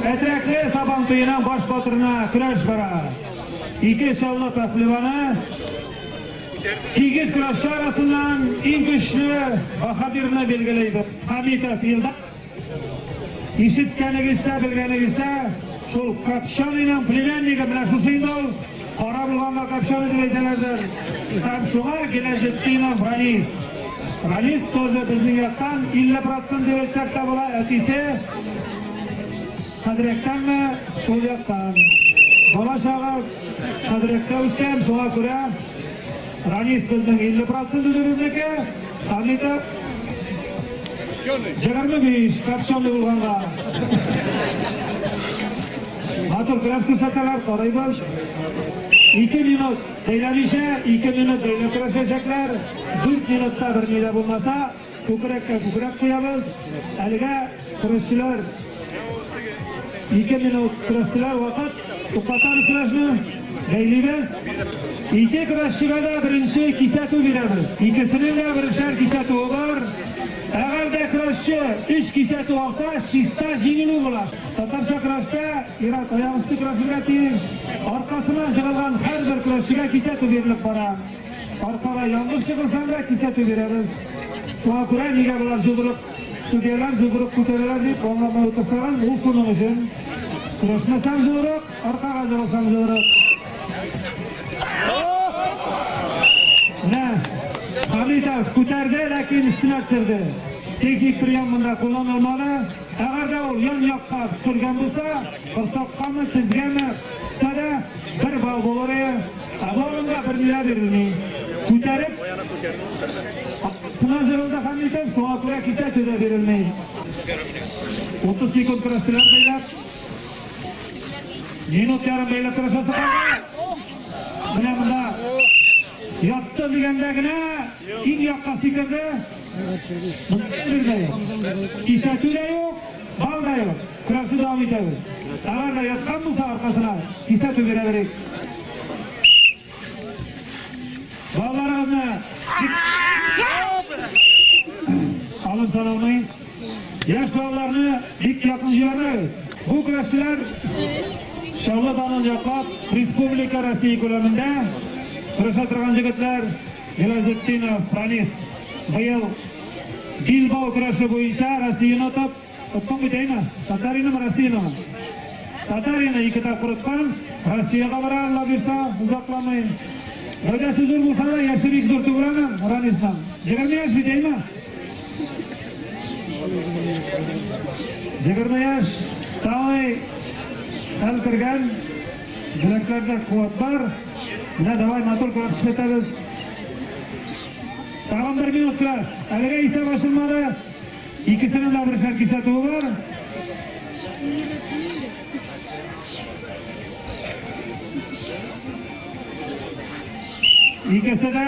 Әтрәкле Сабан туеның баш батырына көрәш бара. Ике чаллы пәһлеваны сигез көрәшче арасыннан иң көчле баһадирны билгеләйбез. Хамитов Илдар. Ишеткәнегезчә, белгәнегезчә, шул Капчаныйның племяннигы менә шушы инде ул. Кара булганда капчан дип әйтәләрдер. Һәм шуңа Гиләҗетдинов Ранис. Ранис тоже безнең яктан 50 процент дип әйтсәк тә була. Әтисе Хәдрәктәнме шул яктан. Бала чагы Хәдрәктә үскән, шуңа күрә Ранис безнең 50 процент үзебезнеке. Хәмитов 25 капчан булганга. Хатын кырас күрсәтәләр, карыйбыз. Ике минут бәйләмичә, ике минут бәйләп көрәшәчәкләр. Дүрт минутта бер ни дә булмаса, күкрәккә күкрәк куябыз. Әлегә көрәшчеләр ике минут көрәштеләр, вакыт туктатабыз көрәшне, бәйлибез. Ике көрәшчегә дә беренче кисәтү бирәбез. Икесенең дә берешәр кисәтүе бар. Әгәр дә көрәшче өч кисәтү алса, чиста җиңелү була. Татарча көрәштә ир-ат аягөсте көрәшергә тиеш. Аркасына җыгылган һәрбер көрәшчегә кисәтү бирелеп бара. Аркага янгыш җыгылсаң да кисәтү бирәбез. Шуңа күрә нигә болар җугырып, судьялар җугырып күтәрәләр дип аңламый утырсагыз, ул шуның өчен. Көрәшмәсәң җугырык, аркага җыгылсаң җугырык. Менә Хамитов күтәрде, ләкин өстенә төшерде. Техник прием монда кулланылмады. Әгәр дә ул ян-якка төшергән булса, корсаккамы, тезгәме төшсә дә, бер балл булыр иде. Ә бу урында берни дә бирелми. Күтәреп астына җырылды Хәмитов, шуңа күрә кисәтү дә бирелми. 30 секунд көрәштеләр бәйләп. Минут ярым бәйләп көрәшәсе калды. Менә монда ятты дигәндә генә иң якка сикерде. Кисәтү дә юк, бал да юк. Көрәшне дәвам итәбез. Товар да яткан булса аркасына, кисәтү бирәберик. Балаларыбызны алып саналмый. Яшь балаларны бик якын җибәрмәгез. Бу көрәшчеләр Чаллы данын яклап, республика Россия күләмендә көрәшә торган җегетләр. Сираҗетдинов Франис быел билбау көрәше буенча Россияне отып, оттың бит әйме? Татаринымы, Россиянымы? Татарина ике тапкыр откан, Россиягә бара Лагышта озакламый. Гәүдәсе зур булса да, яше бик зур түгел аның, Ранисның. Егерме яшь бит әйме? Егерме яшь, самый хәл кергән Йөрәкләрдә куәт бар. Менә давай матур көрәш күрсәтәбез. Тагын бер минут көрәш. Әлегә исәп ачылмады. Икесенең дә бершәр кисәтүе бар. Икесе дә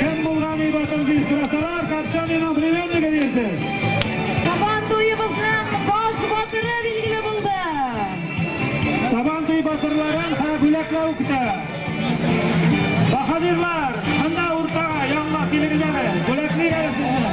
Кем булган ибатын дип сорасалар, Капчаниның племяннигы диерсез. Сабан туебызның баш батыры билгеле булды. Сабан туй батырларын һәр бүләкләү көтә. Баһадирлар, монда уртага, янга килегез әле, бүләклик әле сезне.